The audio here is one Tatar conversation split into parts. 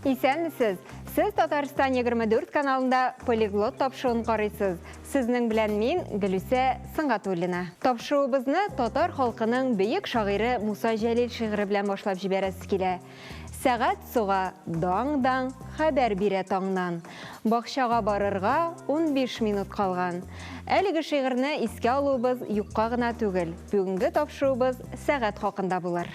Исәнмесез! Сез Татарстан 24 каналында полиглот тапшыуын карыйсыз. Сезнең белән мин Гөлүсә Сыңгатуллина. Тапшыуыбызны татар халкының бөек шагыйре Муса Җәлил шигыре белән башлап җибәрәсе килә. Сәгать суга даң-даң хәбәр бирә таңнан. Бакчага барырга унбиш минут калган. Әлеге шигырьне искә алуыбыз юкка гына түгел, бүгенге тапшыруыбыз сәгать хакында булыр.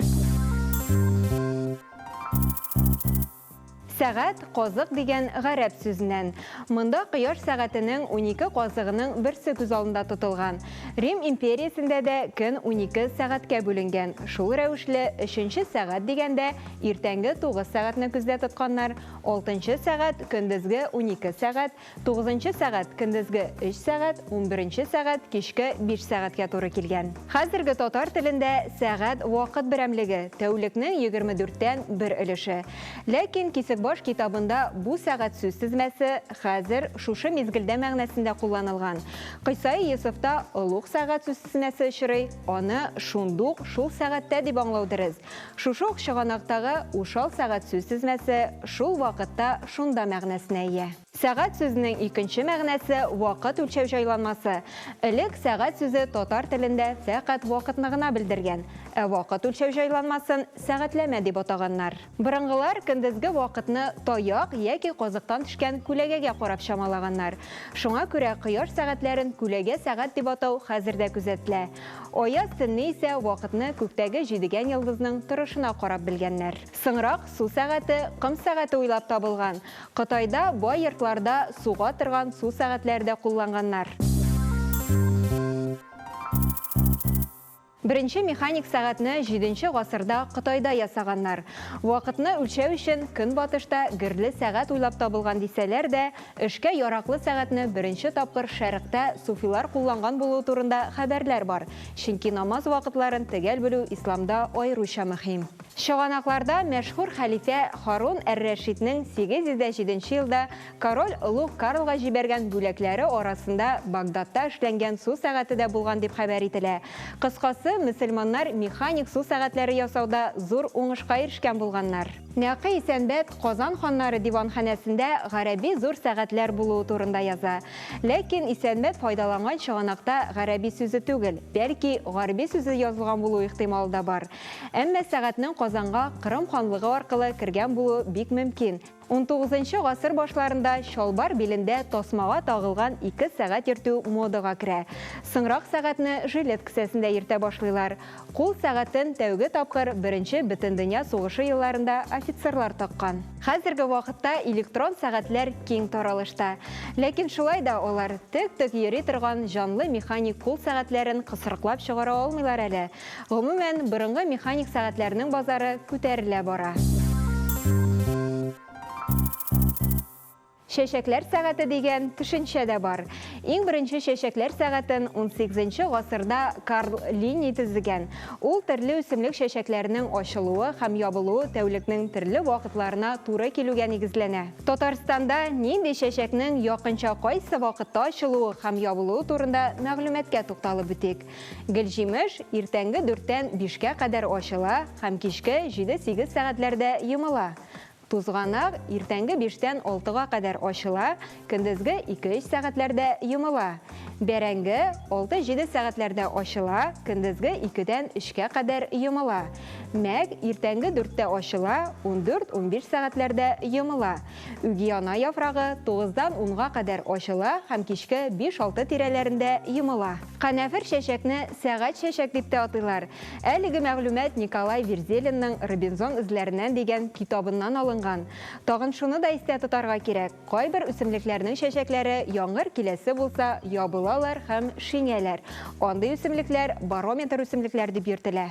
Сәгать, казык дигән гарәп сүзеннән. Монда кояш сәгатенең унике казыгының берсе күз алдында тотылган. Рим империясендә дә көн унике сәгатькә бүленгән. Шул рәвешле, өченче сәгать дигәндә, иртәнге тугыз сәгатьне күздә тотканнар, алтынчы сәгать, көндезге унике сәгать, тугызынчы сәгать, көндезге өч сәгать, унберенче сәгать, кичке биш сәгатькә туры килгән. Хәзерге татар телендә сәгать вакыт берәмлеге, тәүлекнең егерме дүрттән бер өлеше. Ләкин Кисекбаш китабында бу сәгать сүз тезмәсе хәзер, шушы мизгелдә мәгънәсендә кулланылган. Кыйсаи Йосыфта олуг сәгать сүзсснәсе очрый, аны шундук шул сәгатьтә дип аңлау дөрес. Шушы ук чыганактагы ушал сәгать сүзсзмәсе шул вакытта шунда мәгънәсенә ия. Сәгать сүзенең икенче мәгънәсе вакыт үлчәү җайланмасы. Элек сәгать сүзе татар телендә фәкать вакытны гына белдергән, ә вакыт үлчәү җайланмасын сәгатьләмә дип атаганнар. Борынгылар көндезге вакытны таяк яки казыктан төшкән күләгәгә карап чамалаганнар. Шуңа күрә кояш сәгатьләрен күләгә сәгать дип атау хәзер дә күзәтелә. Аяз төнне исә вакытны күктәге җидегән йолдызның торышына карап белгәннәр. Соңрак су сәгате, ком сәгате уйлап табылган. Кытайда бай йортларда суга торган су сәгатьләре дә кулланганнар. Беренче механик сәгатьне җиденче гасырда Кытайда ясаганнар. Вакытны үлчәү өчен Көнбатышта герле сәгать уйлап табылган дисәләр дә, эшкә яраклы сәгатьне беренче тапкыр Шәрыкътә суфилар кулланган булуы турында хәбәрләр бар, чөнки намаз вакытларын төгәл белү исламда аеруча мөһим. Чыганакларда мәшһүр хәлифә Һарун әр-Рәшиднең 807 елда Король олуг Карлга җибәргән бүләкләре арасында Багдадта эшләнгән су сәгате дә булган дип хәбәр ителә. Кыскасы, мөселманнар механик су сәгатьләре ясауда зур уңышка ирешкән булганнар. Нәкый Исәнбәт Казан ханнары диванханәсендә гарәби зур сәгатьләр булуы турында яза. Ләкин Исәнбәт файдаланган чыганакта гарәби сүзе түгел, бәлки, гарби сүзе язылган булу ихтималы да бар. Әмма сәгатьнең Казанга Кырым ханлыгы аркылы кергән булуы бик мөмкин. Унтугызынчы гасыр башларында чалбар билендә тасмага тагылган ике сәгать йөртү модага керә. Соңрак сәгатьне жилет кесәсендә йөртә башлыйлар. Кул сәгатен тәүге тапкыр Беренче Бөтендөнья сугышы елларында офицерлар таккан. Хәзерге вакытта электрон сәгатьләр киң таралышта. Ләкин шулай да алар тек-тек йөри торган җанлы механик кул сәгатьләрен кысрыклап чыгара алмыйлар әле. Гомумән, борынгы механик сәгатьләрнең базары күтәрелә бара. Чәчәкләр сәгате дигән төшенчә дә бар. Иң беренче чәчәкләр сәгатен унсигезенче гасырда Карл Линней төзегән. Ул төрле үсемлек чәчәкләренең ачылуы һәм ябылуы тәүлекнең төрле вакытларына туры килүгә нигезләнә. Татарстанда нинди чәчәкнең якынча кайсы вакытта ачылуы һәм ябылуы турында мәгълүматка тукталып үтик. Гөлҗимеш иртәнге дүрттән бишкә кадәр ачыла һәм кичке җиде-сигез сәгатьләрдә йомыла. Тузганак иртәнге биштән алтыга кадәр ачыла, көндезге ике-өч сәгатьләрдә йомыла. Бәрәңге алты-җиде сәгатьләрдә ачыла, көндезге икедән өчкә кадәр йомыла. Мәк иртәнге дүрттә ачыла, ундүрт-унбиш сәгатьләрдә йомыла. Үгиана яфрагы тугыздан унга кадәр ачыла һәм кичке биш-алты тирәләрендә йомыла. Канәфер чәчәкне сәгать чәчәк дип тә атыйлар. Әлеге мәгълүмат Николай Верзелинның Робинзон эзләреннән дигән китабыннан алынган. Тагын шуны да истә тотарга кирәк, кайбер үсемлекләрнең чәчәкләре яңгыр киләсе булса, ябылалар һәм шиңәләр. Андый үсемлекләр барометр үсемлекләр дип йөртелә.